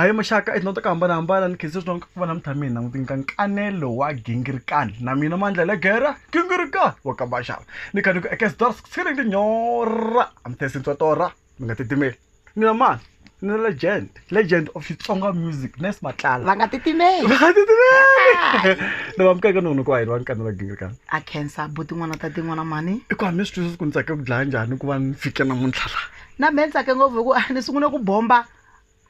A hi muxaka i to hambanahambana ni khensa swinene ku va na mintlha mina n'wi nyika nkanelo wa gingirikani na mina mandla le gera gingirikani wa ka maxava ni kha ni ku ekesdor sixini tinyora a mi thesi ntswa torha mi nga titimeli ni na mani ni legend legend of xitsonga music nes matlala va nga titimeli va nga titimeli ni va mukeke non'wini ku wa hina va nkanelo wa gingirikani a khensa buti n'wana ta tin'wana mani i ku hambi swi twisisa ku ni tsake ku dlaya njhani ku va ni fike namuntlha laha na mehe ni tsake ngopfu hi ku a ni sungule ku bomba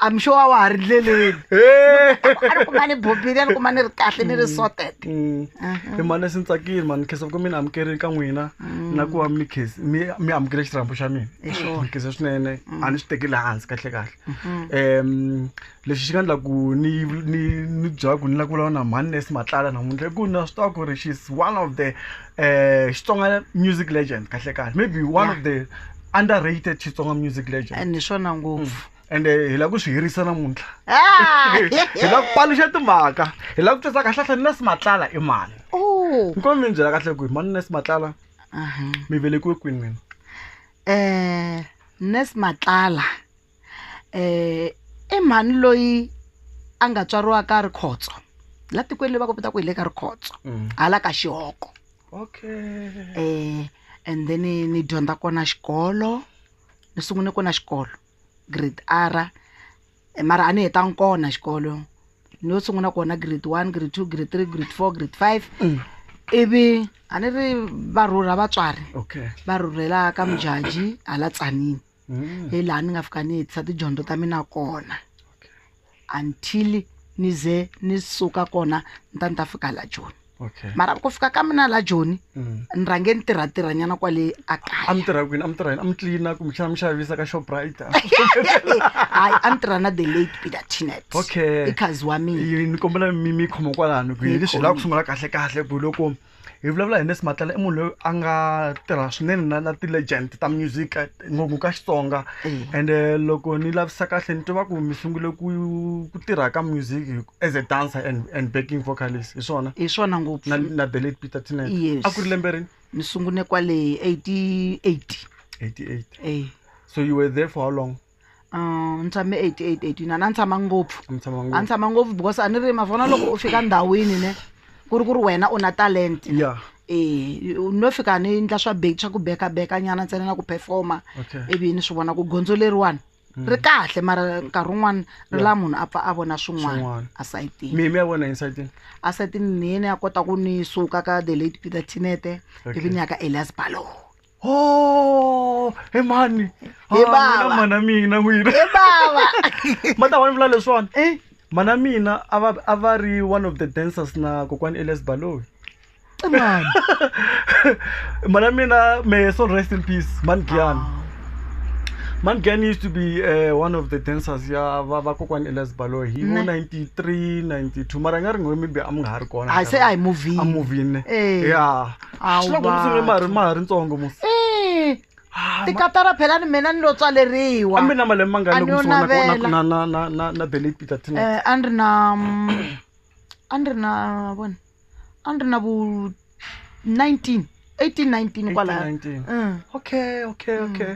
I'm sure wa ha ri ndleleni a ni kuma ni bombile a ni kuma ni ri kahle ni ri Mm. sorted Mm. Mhm. hi mani leswi ni tsakile mani nkhensa ku mi ni amukerile ka n'wina Mm. na ku va mi khes- mi mi amukele xirhambo xa mina Hi swona. ni khensa swinene a ni swi tekeli hansi kahle kahle Mhm. um lexi xi nga endla ku ni ni ni byela ku ni lava ku vulavula na mhani nurse matlala namuntlha i ku na swi tiva ku ri she's one of the um xitsonga music legend kahle kahle maybe one of the under rated xitsonga music legend and hi swona ngopfu ende hi lava ku swi hirisa namuntlha Ah! hi lava ku paluxa timhaka hi lava ku twisisa kahle kahle nurse matlala i mani Oh. ni komi mi ni byela kahle ku hi mani nurse matlala Aha. mi velekiwe kwini n'wina Eh, Nurse Matlala um i mhani loyi a nga tswariwa ka rikhotso la tikweni leyi va ku vita ku hi le ka rikhotso Mm. hala ka xihoko Okay. um and then ni ni dyondza kona xikolo ni sungule kona xikolo grade r Eh, mara a ni hetanga kona xikolo ni yo sungula kona grade one grade two grade three grade four grade five Mm. ivi a ni ri varhurha vatswari Okay. va rhurhela ka mujaji hala tsanini Mm. hi laha ni nga fika ni hetisa tidyondzo ta mina kona until ni ze ni suka kona ni ta ni ta fika la joni Okay. mara ku fika ka mina la joni Mm. ni rhange ni tirhatirhanyana kwale a a mi kaya tirha kwini a mi tirha yini a mi tlilina kumbe xana mi xavisa ka shoprite hayi a ni tirha na the late peter tinet Okay. ikhazi wa mina Yi- ni kombela mi mi khoma kwalano ku hi Ni leswi hi lava ku khoma. sungula kahle kahle ku loko hi vulavula hi Nesi Matlala i munhu loyi a nga tirha swinene na na ti-legend ta music eh, ngopfu ka Xitsonga Eh. and eh, loko ni lavisa kahle ni tiva ku mi sungule ku ku tirha ka music hi- as a dancer and, and backing vocalist hi swona hi swona na, ngopfu na the late Peter Tinet Yes. a ku ri lembe rini ni sungune kwale 88 88 eh so you were there for how long Ah, ni tshame 88 89 a ni tshama ngopfu a ni tshama a ni ngopfu tshama ngopfu because a ni ri ma vona loko u fika ndhawini ne ku ri ku ri wena u na talent ya eh u no fika ni ndla swa bake swa ku beka beka nyana ntsena na ku performa okay ivi ni swi vona ku gondzo leriwani ri kahle mara nkarhi wun'wani ri la munhu a pfa a vona swin'wana Swin'wana. asayitini mi mi ya vona inside asayitini ni yena ya kota ku ni suka ka the late peter tinete Okay. ivi ni ya ka elias balow Oh, he mhani He Ah, bava. n'wina mhana mina n'wina e bava ma ta va ni vula leswiwani Eh, mhana mina a va a va ri one of the dancers na kokwani elias baloyi e mhani mhana mina may her soul rest in peace mhani giyani mhani giyani used to be uh, one of the dancers ya va va kokwani elias baloyi hi vo Ne. 93 92 mara i nga ri ngo maybe a mi nga ha ri kona a se a hi a movini movini Eh. ya xiloko ndzi sungule ma ha ri- ma ha ri ntsongo mo Eh, Ah, ma- tikatara phela ni mina ni lo tswaleriwa a mi na malembe mangani A loko ni yo mi sungula na- navela. na- na- na- na- na belate peter tina Eh, a ni ri na mm, a ni ri na vona a ni ri na vu 19 18 19 kwalaya 19. Mm. okay okay okay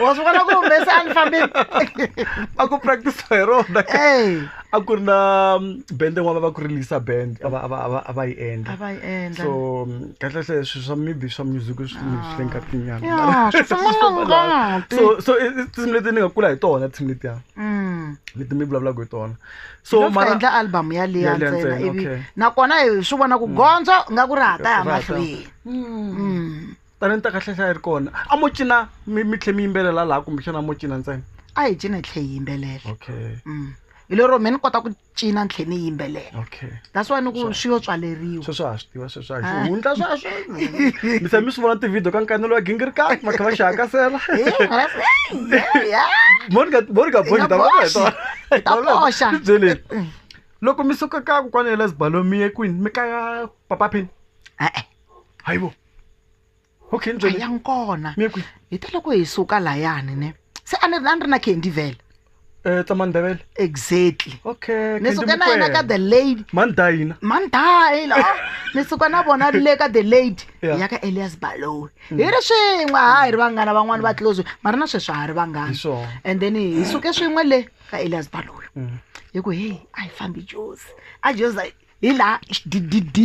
wa swi vona ku humesa a ni fambeni a ku practice hi rona Ey, a ku ri na mm, band yin'wana va ku ri lisa band a va- a va- a va- a va yi a endla va yi endla so mm, kahlekahle swi swa maybe swa music swi swi le Ya, nkatinyana swi famba na ngati. so so i- i tinsimu leti ni nga kula hi tona tinsimu letiya Mm. leti mi vulavulaka hi tona so Loko mara endla album yaliya Yaliya ntsena ntsena, ivi okay. nakona hi swi vona ku gondzo nga ku ri hata ya Rata. mahlweni Mm. Mm. talenta kahle hlaya ri kona a mo cina mi mi tlhe mi yimbelela laha kumbexana mo cina ntsena a hi cina hi tlhe hi yimbelela okay mm. hi lero me ni kota ku cina ni tlhe ni yimbelela okay that's why ni ku swi yo tswaleriwa sweswo ha swi tiva sweswo ha ah. hundla sweswo mi se mi swi vona tivhidiyo ka nkanelo wa gingirikani va kha va xi hakasela monika monika boxi ta va ta boxa byeleni mm. loko mi suka ka kokwana ya lesbalomie kwini mi kaya papa phini e-e hayibo okay a ya nkona hi ta loko hi suka layani ne se a ni a ni ri na candy vele um tamandebele exactly okay ni suka na yena ka the lady mandayina mandayina oh, ni suka na vona le ka the lady hi ya ka elias balowe mm. hi ri swin'we ha hi ri vanghana van'wani va tlozwe mara na sweswi ha ri vanghana and then hi suke swin'we le ka elias balowe mm. hi ku heyi a hi fambi josi a josi hi laha xddd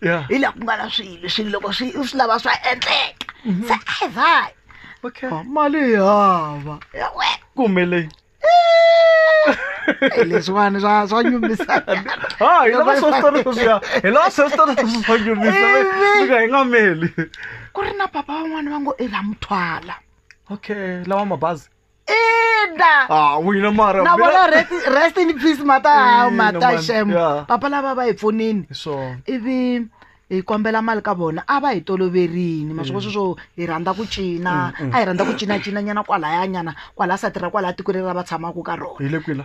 Yeah. hi laha ku nga na swilo swilo loko swi u swi lava swa endleka Mhm. se ai vai okay Ah, mali yi hava we kumbe leyi Eh, leswiwani swa swa nyumisa ha hi lava swo switori sweswiya hi lava swo switori sweswi swa nyumisa Ivi. fika hi nga meli ku ri na papa van'wana va ngo i la muthwala okay lawa mabazi ina ah wina mara na vona rest- rest in peace mata hawu Ina, mata man. shem Yeah. papa lava va hi pfunini so ivi hi kombela mali ka vona a va hi toloverini masviko sweswo hi rhandza ku cina a hi rhandza ku cinacina nyana kwalaya nyana kwalaya sati ra kwalaya tiko leri ra va tshamaka ka rona hi le kwila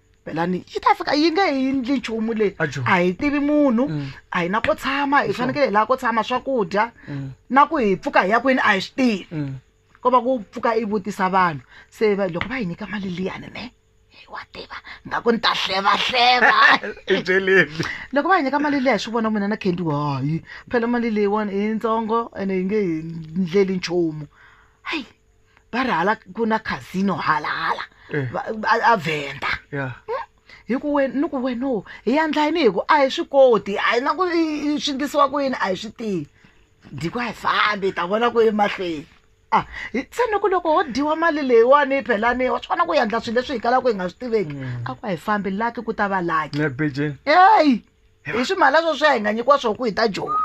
belani yi ta fika yi nge hi ndli nchumu leyi Ajo. a hi tivi munhu Mm. a hi na ko tshama hi fanekele hi laha ko tshama swakudya Mm. na ku hi pfuka hi ya kwini a hi swi tivi Mm. ko va ku pfuka i vutisa vanhu se va- loko va hi nyika mali liyani ne hi wa tiva nga ku ni ta hlevahleva I byeleni. loko va hi nyika mali leyi hi swi vona mina na kendi hayi phela mali leyiwani i yintsongo ene yi nge hi ndleli nchumu hayi va ri hala ku na casino halahala Eh. va- a- a venda ya hi ku we ni ku weno hi yandla yini hi ku a hi swi koti a hi na ku i- i- swi ndlisiwa ku yini a hi swi tivi ndiko a hi fambi hi ta vona ku emahlweni a hi se ni ku loko ho dyiwa mali leyiwani yi phelani wa swi kona ku yandla swilo leswi hi kalaka hi nga swi tiveki a ku a hi fambi laki ku ta va laki na bejeni eyi hi swimhala swo swi hi nga nyikiwa swo ku hi ta joni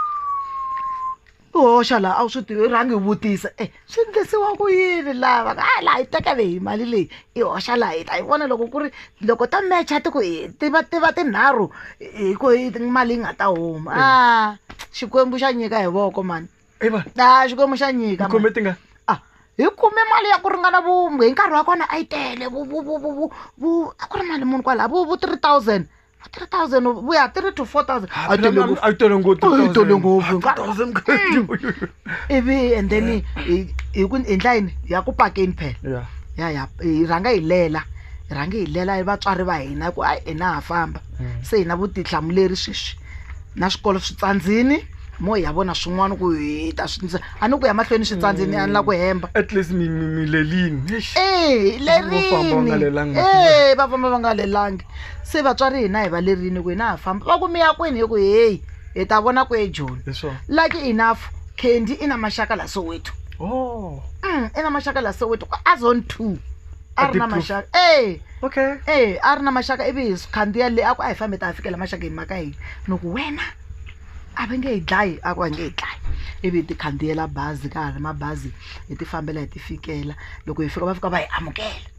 u hoxa laha a wu swi tivi rhangi hi vutisa e swi endlisiwa ku yini lava a ah, laha yi tekele hi mali leyi i hoxa laha hi ta yi vona loko ku ri loko ta mecha ti ku tiva tiva tinharhu hi ku mali yi nga ta huma a ah, xikwembu xa nyika hi voko mani a ah, xikwembu xa nyika hi kume mali ya ku ringana vumbe hi nkarhi wa kona a yi tele vu a ku ri mali muni kwalaha vu three thousand 3000 we are 3 to 4000 a yi tele ngopfu. a yi tele ngopfu Oh, yi tele ngopfu. 3000 ivi and then hi- hi hi ku hi ndla yini ya ku pakeni phela yeah ya ya hi rhanga hi lela hi rhange hi lela hi vatswari va hina ku ayi hina ha famba se hina vutihlamuleri sweswi na swikolo swi tsandzini mo hi ya vona swin'wana ku hi ta swi ndza a ni ku ya mahlweni swi tsandze ni a ni la ku hemba at least mi mi mi lelini eish Eh, Vo famba va nga lelangi lerini masiku Eh, va famba va nga lelangi se vatswari hina hi va lerini ku hina ha famba va ku mi ya kwini hi ku heyi hi ta vona ku ejoni hi swona lucky enough candy i na maxaka la soweto oh Mm, i na maxaka la soweto ku azon two a ri na Addictive. maxaka e okay e a ri na maxaka ivi hi swi khandziya le a ku a hi fambe ta ha fikela maxaka hi maka yini ni ku wena a va nge yi dlayi a ku va nge yi dlayi ivi hi ti khandziyela bazi ka ha ri mabazi hi ti fambela hi ti fikela loko hi fika va fika va hi amukela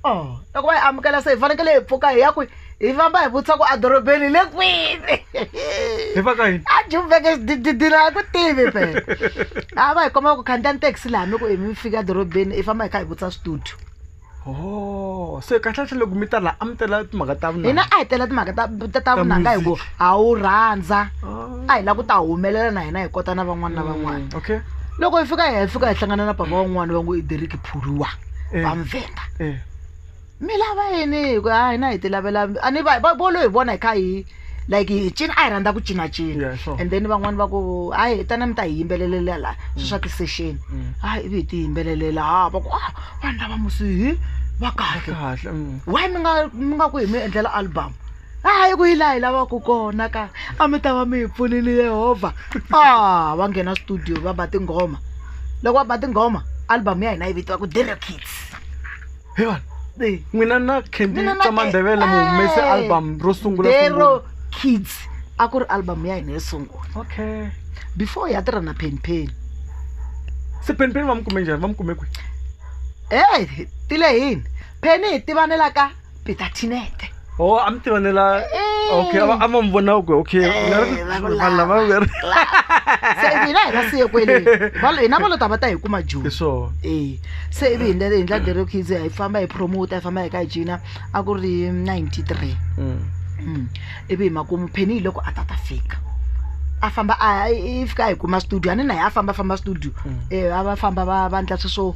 o oh, loko va hi amukela se hi fanekele hi pfuka hi ya kwi hi famba hi vutisa ku edorobeni hi le kwini hi va ka yini a jumveke dididila a ku tivi pe a va hi komba ku khandziya ni taxi laha mi ku hi mi fika edorobeni hi famba hi kha hi vutisa switudio Oh, se kahlekahle loko mi ta laha a mi tela timhaka ta vunanga hina a hi tela timhaka ta- ta- ta vunanga hi ku music. ha wu rhandza Oh. a hi lava ku ta humelela na hina hi kota na van'wana na van'wana Mm, okay loko hi fika hi hi fika hi hlangana na papa wan'wana va ngo i deriki phuriwa Eh. va muvhenda eh. mi lava yini hi ku a hina hi ti lavela a ni va va- vo lo hi vona hi kha hi like hi cina a hi rhandza ku cinacina and then van'wani va ku hayi hi tana mi ta hi yimbelelela laha swi swa ti-session mm. hayi ivi hi ti yimbelelela ha va ku a ah, vanhu lava musihi va kahle mm. why mi nga mi nga ku hi mi endlela album hayi ku yi laha hi lavaka kona ka a mi ta va mi hi pfunile yehovha a ah, va nghena studio va ba tinghoma loko va ba tinghoma album ya hina yi vitiwa ku dere kids Hi wona. Hey, n'wina na candy Mina na ta mandevele mu humese Eh, album ro sungula dero sungula. kids a ku ri album ya hina yo sungula okay before ya tirha na penpen se penipeni va mi kume njhani va mi kume kwihi e tile hini pheni hi tivanela ka peter tinete Oh, I'm the vanilla. Okay, I'm I'm on one now. Okay. Vanilla va ver. se i vile hina siye kwele hina va lo ta va ta hi kuma joni e se i vi hi ndlela hi ndla dere kids hi famba hi promote hi famba hi ka hi jina a ku ri 93 mm. mm. ivi hi makumu pheni hi loko a ta ta fika a famba a fika hi kuma studio a ni na hi a famba famba studio um a va famba va va ndla sweswo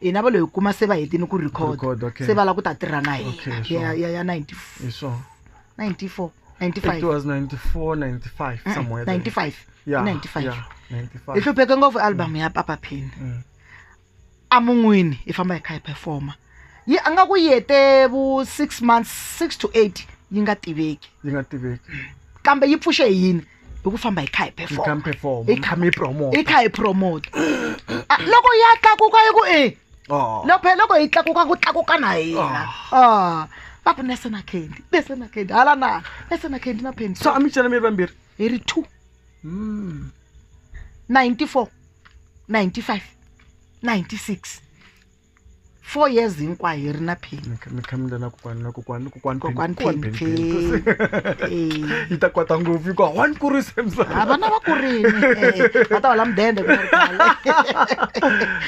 hina va lo hi kuma se va hetini ku record Record, okay. se va lava ku ta tirha na Okay, hina sure. ya ya ya 90 hi swona 94 it 95 was 94 95 Mm, somewhere there. 95 yeah, 95 yeah, hi 95 hlupheke ngopfu album ya papa pin Mm. a mun'wini hi famba hi kha hi performa yi a nga ku yi hete vu six months six to eight yi nga tiveki yi nga tiveki kambe yi pfuxe hi yini hi ku famba hi kha hi perform hi kha mi promote hi kha hi promote Ah, loko ya tlakuka yi ku e Oh. loko phela loko yi tlakuka ku tlakuka na hina Ah, va ku nese na candy nese na candy hala na nese na candy na pendi so a mi cela mi ri vambirhi hi ri two Hmm. 94 95 96 four years hinkwayo hi ri na pheni mi kha- mi kha mi lana kokwani na kokwani kokwani kokwani Kokwani pheni Pheni, pheni Pheni. Eh. yi ta kwata ngopfu hikuva one kurisa ha emsava vana va kurini eh, va ta hola mudende ku ri kwala.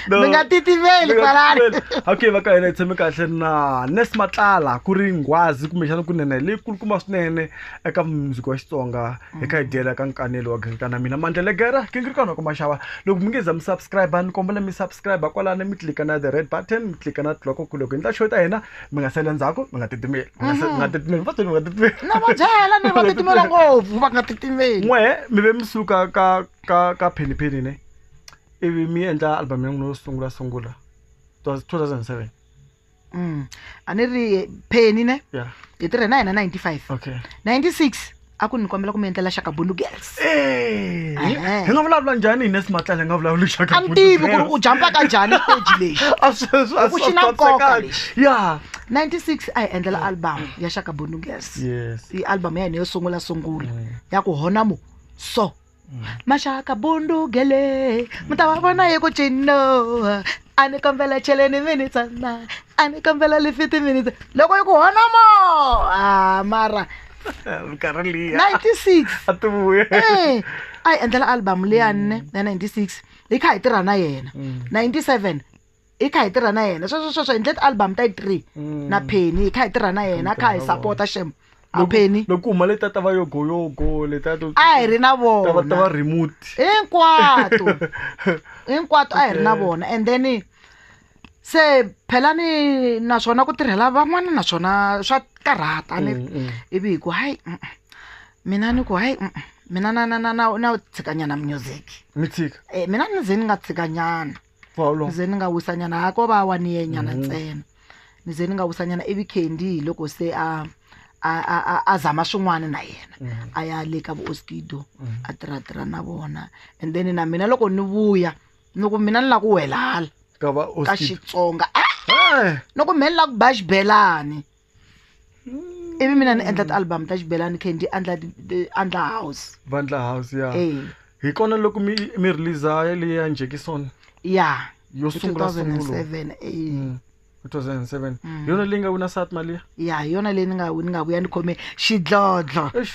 No. mi nga titiveli kwalani okay va ka hina hi tshame kahle na nes matlala ku ri nghwazi kumbexana kunene leyi kulukumba swinene eka mundzuku wa xitsonga hi ka hi tiyela ka nkanelo wa gingita na mina mandla legera kingirikana ku maxava loko mi nge za mi subscribe ni kombela mi subscribe kwalani mi tlika na the red button mi tlika na tiloko ku loko hi ndla show ta hina mi nga sele ndzhaku mi nga titimeli mi nga se- mi nga titimeli va tweni mi nga titimeli na va byela ni va titimela ngopfu va nga titimeli n'we mi ve mi suka ka ka ka phenipheni ne ivi mi endla album ya n'wina yo sungula sungula it was 2007 Mm. a ni ri penny ne Yeah. hi tirhe na yena 95 okay 96 a ku ni kombela ku mi endlela shakabundu girls Eh, hi Ehe. hi nga vulavula njhani hine simatlela hi nga vulavuli xaka a ni tivi ku ri u jampa ka njhani stage lexi Ku xi na nkoka lexi. ya 96 a hi endlela album ya shakabundu girls yes i album ya hina yo sungula sungula ya ku honamo so maxaka bundugele mi ta va vona hi ku cino a ni kombela cheleni mi ni tsana a ni kombela lifiti mi ni tsana loko yi ku honomo a ah, mara minkarhi liya 96 a ti vuya eh, a yi endlela album leyani ne ya 96 hi kha hi tirha na yena 97 mm. hi kha hi tirha na yena sweswo sweswo hi ndle ti-album ta yi three mm. na penny hi kha hi tirha na yena kha hi sapota xem apheni loko huma leti ta va yogoyogo leta a hi ri na vona ta va remote hinkwato hinkwato a hi ri na vona and then se phelani naswona ku tirhela van'wana naswona swa karhata ni mm, mm. ivi hi ku hayi mm, mina ni ku hayi mina na na na na na tshikanyana music mi tshika eh, mina ni ze ni nga tshikanyana Bolo. ze ni nga wisanyana ha ko va wa ni yenyana Mhm. ntsena ni ze ni nga wisanyana ivi candy hi loko se a a a a- a zama swin'wana na yena Mhm. a ya le ka vuoskido Mhm. a tirhatirha na vona and then na mina loko ni vuya ni ku mina ni la ku wela hala ka va ka oskid xitsonga ah, Eh, ni ku mina ni la ku ba xibelani ivi mina ni endla ti-album ta xibelani khe ndzi andla andla house vandla house ya Eh. hi kona loko mi mi release leyi ya njekison ya yo hi sungula sungula 2007 eh. Mm. 2007 hi yona leyi nga wina sat mali ya ya hi yona leyi ni nga ni nga vuya ni khome xidlodlo Eish.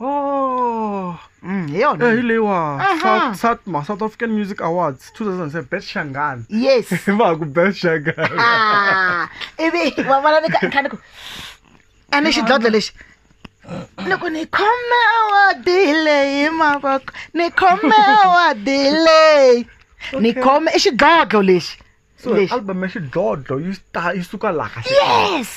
Oh, mm, hi yona Eh, hi leyiwa Aha. South- satma south african music awards 2007 best shangani yes va ku best shangani Ah, ivi wa vona ni ka- ni kha ni ku a ni xidlodlo lexi ni ku ni khome awadi leyi mavoko ni khome awadi leyi ni khome i xidlodlo lexi so lexi album ya xidlodlo yi sta- yi suka laha yes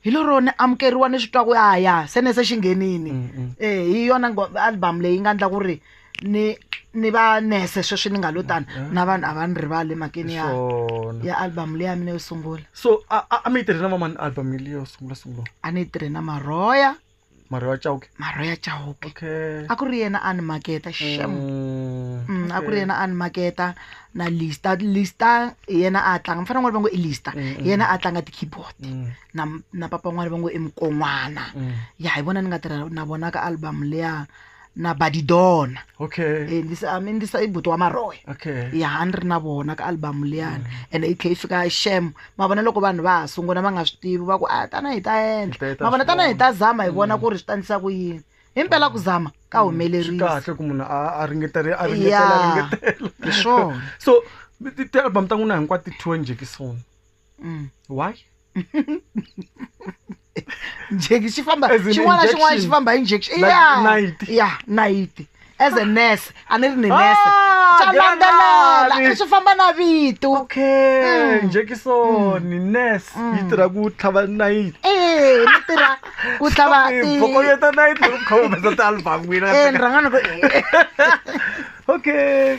hi lero ni amukeriwa ni swi twa ku ya ya se ne se xi nghenini Mm, mm. eh hi yona ngo- album leyi nga endla ku ri ni ni va nese sweswi ni nga lo tani na vanhu a va ni rivali emakeni ya Swona. ya album leyi ya mina yo sungula so a a- a mi yi tirhe na vamani album leyi yo sungula sungula a ni yi tirhe na marhoya marho ya chauke marho ya chauke okay a ku ri yena a ni maketa shem mm, mm, a ku ri yena a ni maketa na lista lista yena a tlanga mfana n'wana va ngo i lista mm, mm. yena a tlanga ti-keyboard mm. na, na papa n'wana va ngo i mukon'wana mm. ya hi vona ni nga tirha na vona ka album leya na badidona okay Eh, ndi sa- I mean, ndi sa i buti wa maroya okay ya a ni ri na vona ka album liyani and i tlhe yi fika shem ma vona loko vanhu va ha sungula va nga swi tivi va ku a tana hi ta Hi ta- hi endla ta ma vona swi tana hi vona." ta zama hi vona ku ri swi tandisa ku yini hi mpela ku zama ka swi humelerile kahle ku munhu a a ringetele a ringetela Yeah. a ringetela hi swona so ti- ti-album ta n'wina hinkwato ti thiwe njekisoni Mm, why njeki xi famba As in xin'wana na xin'wana xi injection. famba hi injection Like ya nayiti. ya nayiti as a nurse a ni ri ni nurse Ah, swa landzelela granadi. swi famba na vito okay Mm. njekisoni nes Mm. yi tirha ku tlhava nayiti ee ni tirha ku tlhava ti- bokoyeta nayiti loko mi kha mi humesa ti-album n'wina Eh, ni rhanga ni ku eh. okay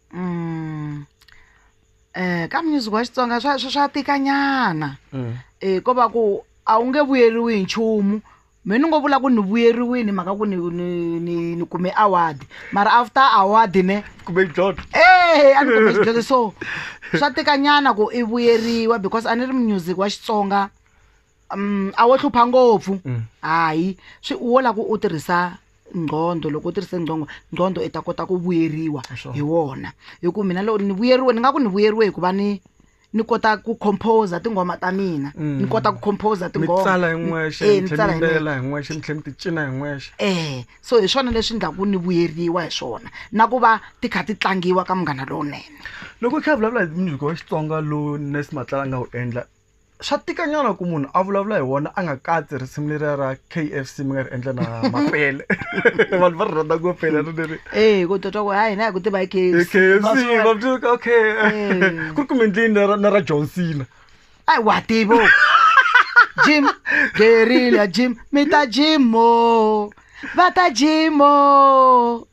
Mm. Eh ka music wa Xitsonga swa swa- swa tika nyana. Eh ko va ku a wu nge vuyeriwi hi nchumu. Me ni ngo vula ku ni vuyeriwini mhaka ku ni ni ni, ni kume award. Mara after award ne kumbe xidlodlo Eh a ni kume xidlodlo so swa tika nyana ku i vuyeriwa because a ni ri music wa Xitsonga um a wo hlupha ngopfu hayi swi wo la ku u tirhisa nqhondo loko u tirhise nqhongo nqhondo i ta kota ku vuyeriwa hi wona hi ku mina loko ni vuyeriwe ni nga ku ni vuyeriwe hikuva ni ni kota ku composer tinghoma ta mina ni kota ku composer mi tinghoma tsala hi n'wexe Eh, mi ni tlhela tsala mi hi nexe. yimbelela hi n'wexe mi tlhela mi ti cina hi n'wexe eh so hi swona leswi endlaku ni vuyeriwa hi swona na ku va ti kha ti tlangiwa ka munghana lowunene loko hi kha hi vulavula hi music wa xitsonga lowu nes matlala a nga wu endla swa tika nyana ku munhu a vulavula hi wona a nga katsi risimu leriya ra kfc mi nga ri endla na mapele vanhu va ri rhandza ku pele ri leri ee eh, ku twa ku hayi na hi ku tiva hi kfc va byuka okay eh. ku ri kumbe ndlini na ra john cena ayi wa tivo jim gerile ya jim mi ta jimo va ta jimo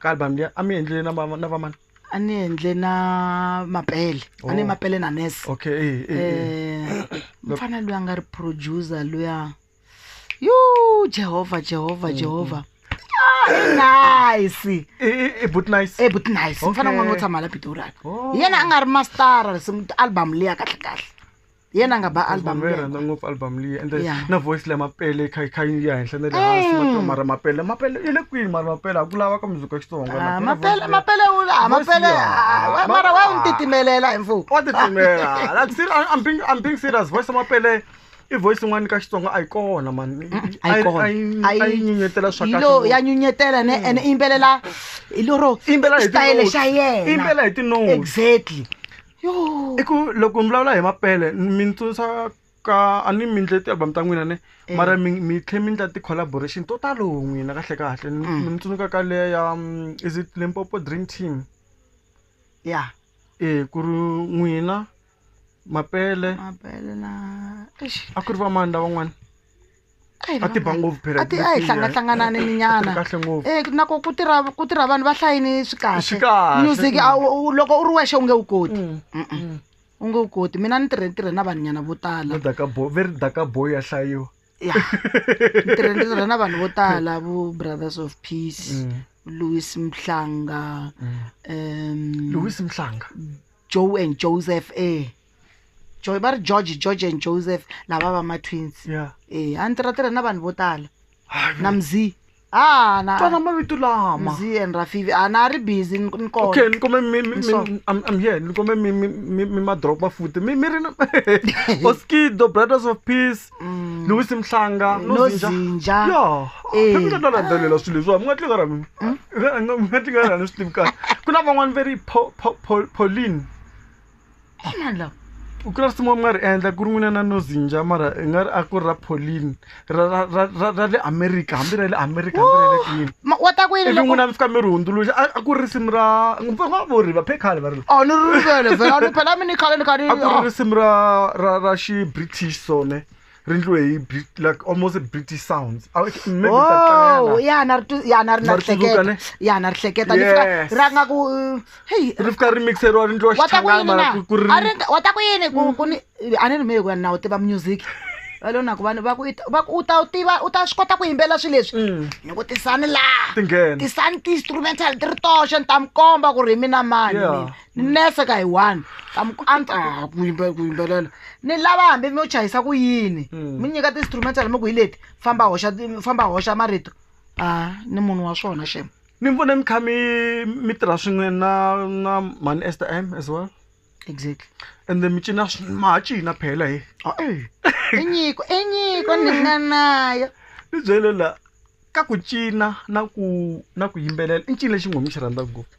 ka album liya a mi endlile na va- na vamani a ni endle na mapele a ni Oh. mapele na nes okay eh, eh, eh. um mfana loyi a nga ri producer luya yu jehovha jehovha jehovha Ah, i nice Eh, eh, eh, but nice e but nice mfana Okay. un'wana wo tshama la pitoraka Oh. hi yena a nga ri mastara risimu album liya kahle kahle yena nga ba album Album leyi rhandza ngopfu album leyi and then Yeah. na voice leya mapele kha kha yi ya henhla na le hansi matiwa mara mapele mapele yi le kwini mara mapele a ku lava ka muzika xitsonga Ah, mapele mapele u la Voice mapele leyi, ah, ah, mara wa ah. n'wi titimelela hi mfumo wa titimela like ser- I'm- I'm being I'm being serious voice ya mapele i voice yin'wana ka xitsonga a yi kona man a yi kona a yi nyenyetela swa Yi lo- ya kahle nyunyetela ne ene i yimbelela hi loro Yimbelela hi xitayele tinotes. xa yena Yimbelela hi tinotes. exactly i ku loko ni vulavula hi mapele mi ni tsundzuxa ka a ni mi endle ti-album ta n'wina ne Eh. mara mi mi tlhe mi endla ti-collaboration to talo n'wina kahle kahle ni Mm. ni tsundzuka ka leya ya mm, is it limpopo dream team ya e ku ri n'wina mapele mapele na eish a ku ri vamani lavan'wana a ti ba ngopfu phela a ti a hi hlangahlanganani ni nyana kahle ngopfu eh nako ku tirha ku tirha vanhu va hlayini swi kahle Swi kahle. music a wu- wu- loko u ri wexe u nge wu koti Mm-mm. u nge wu koti mina ni tirhe ni tirhe na vanhu nyana vo tala ni daka boy ve ri daka boy ya hlayiwa ya ni tirhe ni tirhe na vanhu vo tala vo brothers of peace louis mhlanga um lewis mhlanga joe and joseph e jo va ri george george and joseph lava va ma-twins ya e a ni tirha tirha na vanhu vo tala na mzi a na twana mavito lama mzi and rafivi a na ri busy ni ni kona okay ni kome mi- mi- mi- So- I'm- I'm here ni kome mi- mi- mi- mi madrop mafuti mi mi ri na oskido brothers of peace Mm. louis mhlanga Eh, no Zinja. Eh. Ah. yaphemina no landzelela swilo leswiwa mi nga tlingara mi mi nga tlingara ni swi tivi kahle ku na van'wani ve ri Po- Po- Po- pauline e mani lawa vukreste mo mi nga ri endla ku ri n'wina na nozinja mara i nga ri a ku ri ra polini ra ra ra ra ra le america hambi ra le america hambi ra le kwini Ma- wa ta ku yini ivi loko n'wina mi fika mi ri hundzuluxa a a ku ri risimu ra va nga vori va phe khale va ri oh ni ri rivele vhela ni phela mi ni khale ni kha ni a ku ri oh. risimu ra ra ra xi british sone ri ndliwe hi Brit- like almost british sounds Ah, okay, maybe ta tlangela. Oh, ya na ri twi- ya na ri na Na ri ri tsundzuka, ne? hleketa ya na ri hleketa ni fika Yes. ra nga ku uh, heyi ri fika ri mixeriwa ri ndliwa wa ta ku yini xichangana na ku- ku ri A ri nga- wa ta ku yini ku ku ni a ni ri mehe ku ya na wu tiva music va lo na ku vanhu va ku i ta- va ku u ta wu tiva u ta swi kota ku yimbelela swilo leswi Mm, ni ku tisani laha ti nghena tisani ti-instrumental ti ri toxe ni ta mi komba ku ri hi mina mani Yeah. mina ni nese ka hi one ka mi ku a ni ta ha ku yimbe- ku yimbelela ni lava hambi mi yo chayisa ku yini Mm. mi nyika ti-instrumental mi ku hi leti famba hoxa ti- famba hoxa marito a ni munhu wa swona xema mi vona mi kha mi mi tirha swin'we na na mani ester m as well exactly and then mi cina swi- ma ha cina phela he Oh, eh. i nyiko i nyiko ni nga nayo ni byele la ka ku cina na ku na ku yimbelela i ncini lexi nghomi xi rhandza ngopfu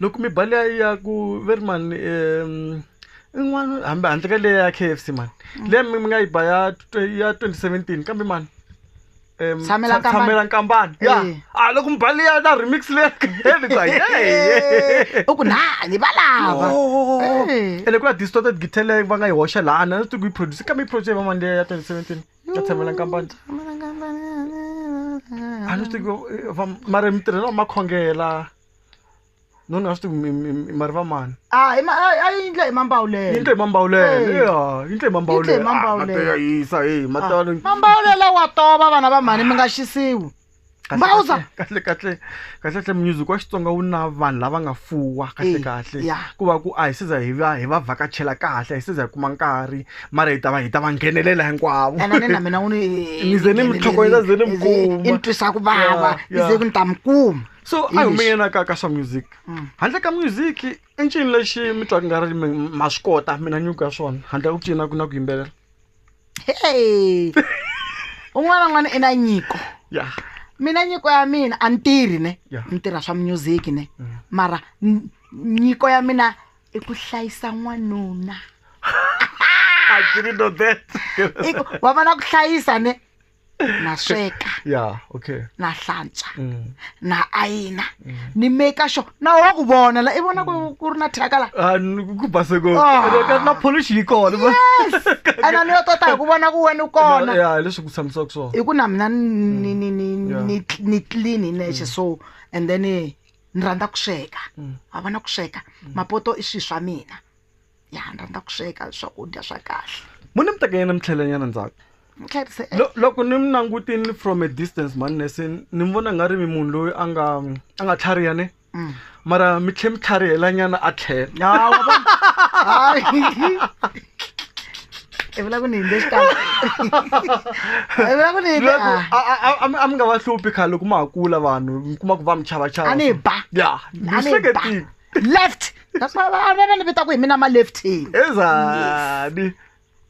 loko mi ba leya ya ku ve ri mani um in'wana hambi handle ka leya ya k f c mani mm. leya mi mi nga yi ba ya ya twenty seventeen kambe mani tshamela nkambani ya eh. a ah, loko mi ba leya na remix leya u ku na ni va lava eh. ene ku na distorted guitar leyi va nga yi hoxa laha na swi tiku yi produce kambe yi produce va mani leya ya twenty seventeen ya tshamela nkambani a ni swi tiku eh, mara mi tirhela makhongela no ni nga swi tivi mi- mi- mi- mari va mani Ah, hi ma- a- a yi ndle hi mambawulelo yindle hi mambawulele Eh. ya yindle hi mambawulele Yindle hi mambawulele. Ah, mateya yisa heyi matalo mambawulela wa tova vana va mhani mi nga xisiwi mbawuza kahle kahle kahle kahle music wa xitsonga wu na vanhu lava nga fuwa kahle Eh, kahle ya. ku va ku a hi siza hi va hi va vhakachela kahle hi siza hi kuma nkarhi mara hi ta va hi ta va nghenelela hinkwavo ena ni na mina wu ni Ni ze ni mi tlhokoveta, ze ni mi kuma. i ni twisa ku vava Ya, ni ya. ze ku ni ta mi kuma so a hi English. humeyena ka ka swa music Mm. handle ka music i ncini lexi mi twaka nga ri mi- ma swi kota mina nyuku ya swona handle ka ku cina ku na ku yimbelela hey un'wana na un'wana i na nyiko ya mina nyiko ya mina a ni tirhi ne Yeah. ni tirha swa music ne Mm. mara n- nyiko ya mina i ku hlayisa n'wanuna I didn't know that. I ku- wa vana ku hlayisa ne na sweka ya okay na hlantswa Mm. na ayina ni maker sure na wa ku vona la i vona ku ku ri na thyaka la Ah, ni- ku base ko Ah. Ene ka- na polish yi kona ba- yes and a ni yo tota hi ku vona ku wena u kona ya hi leswi ku tshamisaka swona hi ku na mina ni ni ni Yeah. ni ni clean hi nexe so and then eh, ni rhandza ku sweka Mm. wa vona ku sweka mapoto i swilo swa mina ya rhandza ku sweka swakudya swa kahle mo ni mi teka yena mi tlhelanyana ndzhaku mi tlherise e- Lo- loko ni mi langutini from a distance mhani nese ni mi vona nga ri mi munhu loyi a nga a nga tlhariha ne Mm. mara mi tlhe mi tlharihelanyana a tlhela Ya, wa vona? Hayi. i vula ku ni hindze xitalo i vula ku ni hindze Leswaku ah. a- a- a- a mi- a mi nga va hluphi khale loko ma ha kula vanhu mi kuma ku va mi chava chava A ni ba. ya A ni ni ba. hleketile left that's why va va va ni vita ku hi mina ma leftini ezani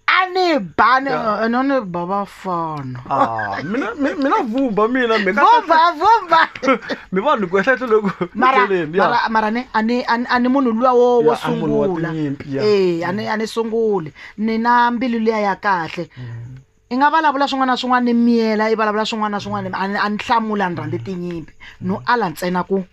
a ni ba ni a no ni ba va fona Ah, mina mi- mina vumba mina mi ka- vumba vumba mi vanhu ku ehlehlo loku mara Ndleleni, ya. mara- mara ni a ni a ni- a ni munhu luwa wo wo Ya, a munhu wa sungula tinyimpi, ya. eh a ni a ni sunguli ni na mbilu liya ya kahle i nga vulavula swin'wana na swin'wana ni miyela i vulavula swin'wana na swin'wana a ni a ni hlamula ni rhandze tinyimpi no ala ntsena ku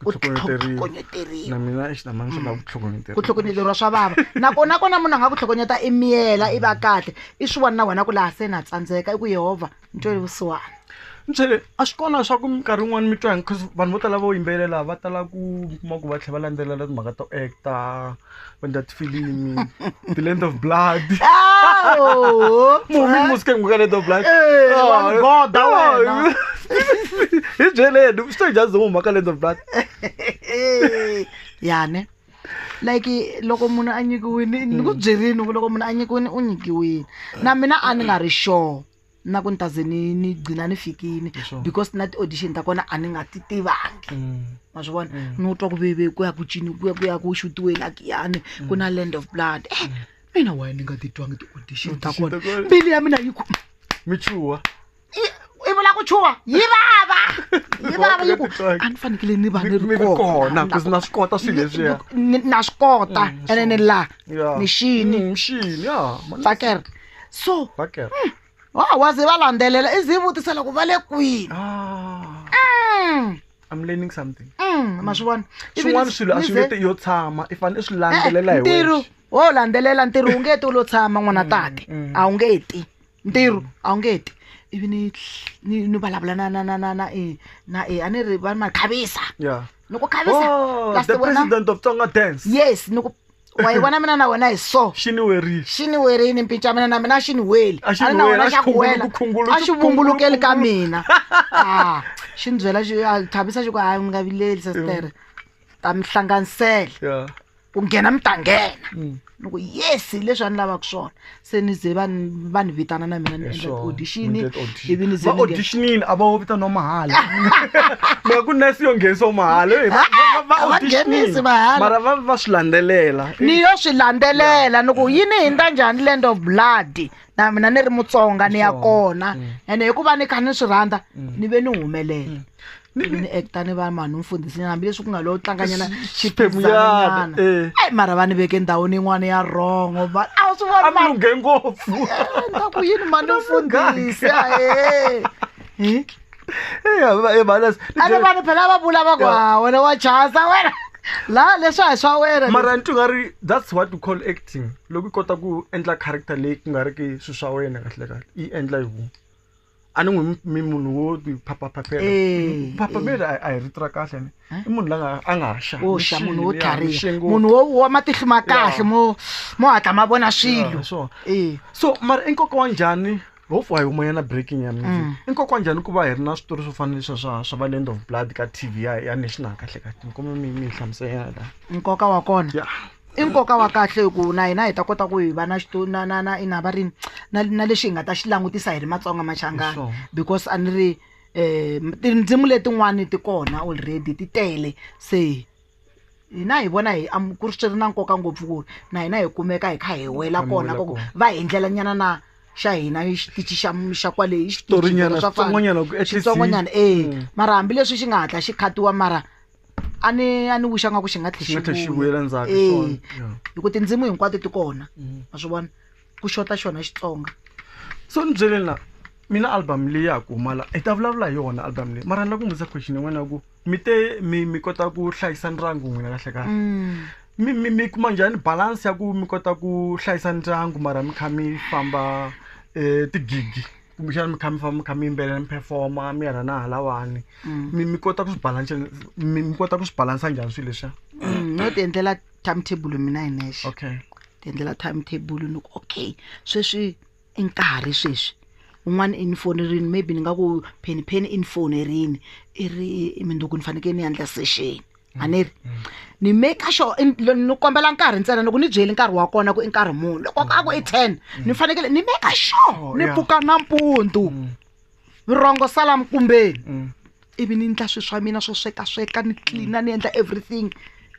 u tlhokonyeteriwa na mina xitamani swi lava ku tlhokonyeteriwa ku tlhokonyeteriwa swa vava nakona kona munhu a nga ku tlhokonyeta i miyela i va kahle i swi vona na wena ku laha se na tsandzeka i ku yehovha ni twele vusiwana nchele a swi kona swa ku minkarhi yin'wana mi twa bcause vanhu vo tala vo yimbelela va tala ku mi kuma ku va tlhela va landzelela timhaka to actor when that film the land of blood Awu! mumi musike nguka land of blood Eh, Oh, wamgoda oh, wena. hi byeleni swi njhani zo huma ka land of blood Eh, yani like loko munhu a nyikiwile ni ku byerini ku loko munhu a nyikiwile u nyikiwile na mina a ni nga ri sure na ku ni ta ze ni ni gcina ni fikile Sure. because na ti-audition ta kona a ni nga ti tivangi Mm. ma swi vona Mm. ni u twa ku veve ku ya ku cini ku ya ku ya ku xutiwe lakiyani ku na land of blood Eh, mina waye ni nga titwangi ti-audition ta Audition ta kona kona. mbilu ya mina yi ku michuwa i- i vula ku chuwa yi vava yi vava yi ku Titwangi. a ni fanekele ni va ni Mi- mi ri ri kona, 'cause na swi kota swilo leswiya. na swi kota Mm, ene ni sure. la Yeah. mixini Mm, mixini ya mani- tsakela so Bakela. wa wa ze va landzelela i ze vutisa loko va le kwini Ah, Mm, I'm learning something. mm, ma swi vona Ivi Swin'wana ni- swilo a ni swi ze- nge te yo tshama, i fanele i swi Eh, landzelela hi ntirho wexe. wo landzelela ntirho wu nge ti u lo tshama n'wana tate mm. a wu nge ti ntirho a wu nge ti ivi ni ni ni vulavula na na na na na e na e a ni ri va ni ma khavisa Yeah. ni ku khavisa Oh, plus the wena president of Tonga dance. yes ni ku wa yi vona mina na wena hi so xi ni werile xi ni werini mpinca mina na mina xi ni weli A xi ni na weli, wena a xi xa ku wela khungulu- khungulu- a xi khungulu- vumbulukeli ka khungulu. mina Ah, xi ni byela xi a thabisa xi ku hayi mi nga vileli sesitere ta mi hlanganisela ya ku nghena mi ta nghena Mm. ni ku yes hi leswi a ni lavaka swona se ni ze va ni- va ni vitana na mina ni endla Sure. audition Mi endla audition. ivi ni ze Va ni nge- auditionini a va wo vitaniwa mahala mara ku nurse yo nghenisa mahala Eh, va- va- va- va A va auditionini. nghenisi mahala. mara va va swi landzelela ni yo swi landzelela ni ku yi ni hindza njhani land of blood na mina ni ri mutsonga ni ya Sure. kona ene hikuva ni kha ni swi rhandza ni ve ni humelela ni ni acta ni va mhani mfundhisinyana hambileswi ku nga lo tlanganyana xiphemuyana eh. ai mara va ni veke ndhawini yin'wana ya rongo va a wu swi vona mara lunge ngopfu nga ku yini mhani mfundhisi ahe ebalas ane vanhu phela va vula va ku ha wena wa chasa wena la leswi a hi swa wena mara ni twi nga ri that's what we call acting loko i kota ku endla character leyi ku nga ri ki swi swa wena kahle kahle yi endla hi vun'we a ni n'wi mi munhu wo ti phaphaphapela Eh, phaphamela a- a hi rito ra kahle ni Eh? i munhu la nga- a nga ha xa wo xa munhu wo tlhariha munhu wo wa matihlo ma kahle mo mo hatla ma vona swilo swilo Eh, so mara i nkoka wa njhani hofu a hi humayana breaking ya music Mm. i nkoka wa njhani ku va hi ri na switori swo fana leswa swa swa va land of blood ka tv ya ya national kahle kahle mi kuma mi mi yi hlamusela nkoka wa kona ya i nkoka wa kahle hi ku na hina hi ta kota ku hi va na na na na ina va ri na na lexi hi nga ta xi langutisa hi ri matsonga machangana because a ni ri um tindzimu letin'wani ti kona already ti tele se hina hi vona hi ku ri swi ri na nkoka ngopfu ku ri na hina hi kumeka hi kha hi wela kona ka ku va hi ndlela nyana na xa hina xitichi xa xa kwale i xitorinyana switsongonyana switsongonyana e mara hambileswi xi nga hatla xi khatiwa mara a ni a ni wixa nga ku xi nga tlhe Xi nga tlhe xi vuyela ndzhaku, Eh, swona, yeah. hi ku tindzimu hinkwato ti kona Mm. ma swi vona ku xota xona xitsonga so ni byeleni la mina album leyi ya ha ku humala hi ta vulavula hi yona album leyi mara ni la ku mi vutisa question yin'wana ya ku mi te mi mi kota ku hlayisa ndyangu n'wina kahle kahle Mm. mi mi mi kuma njhani balance ya ku mi kota ku hlayisa ndyangu mara mi kha mi famba um tigigi kumbexana mi kha mi famba mi kha mi yimbelela mi performa mi ya la na halawani mm. mi mi kota ku swi balansa mi mi kota ku swi balansa njhani swilo leswiya mm, no ti endlela time table mina hi nexe okay ti endlela time table ni ku okay sweswi i nkarhi sweswi un'wana i ni fonerini maybe ni nga ku pheni pheni i ni fonerini i ri minduku ni fanekele ni yandla sexeni a ni ri ni maker sure in- lo- ni kombela nkarhi ntsena loko ni byeli nkarhi wa kona ku i nkarhi muni loko a ku i ten ni fanekele ni maker sure Oh, ni yeah. pfuka nampundzu vurhongo sala mkumbeni Mm. ivi ni endla swilo swa mina swo swekasweka ni tlina ni endla everything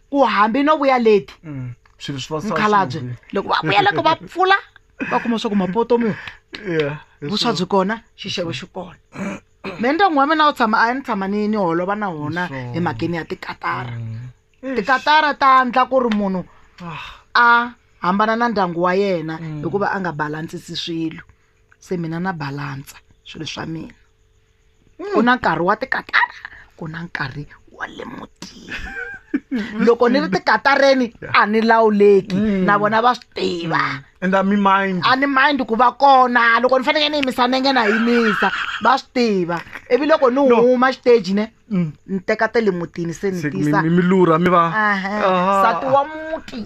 ku hambi no vuya leti Mm. swilo swi va swa mukhalabye swin'we. loko va vuya loko va pfula va kuma swa ku mapoto mi Yeah, hi vuswa swona. byi kona xixevo xi kona me ndyangu wa mina wu tshama a ni tshama ni ni holova na wona hi makeni ya tikatara mm. tikatara ta ndla ku ri munhu ah. a hambana na ndyangu wa yena mm. hikuva a nga balansisi swilo se mina na balansa swilo swa mina mm. ku na nkarhi wa tikatara ku na nkarhi wa le mutini loko ni ri tikatareni a ni lawuleki na vona va swi tiva and a mi mind a ni mind ku va kona loko ni faneke ni yimisa nenge na yimisa va swi tiva ivi loko ni huma xiteji ne mm. ni teka te le mutini se ni tisa mi lura mi va nsati wa muti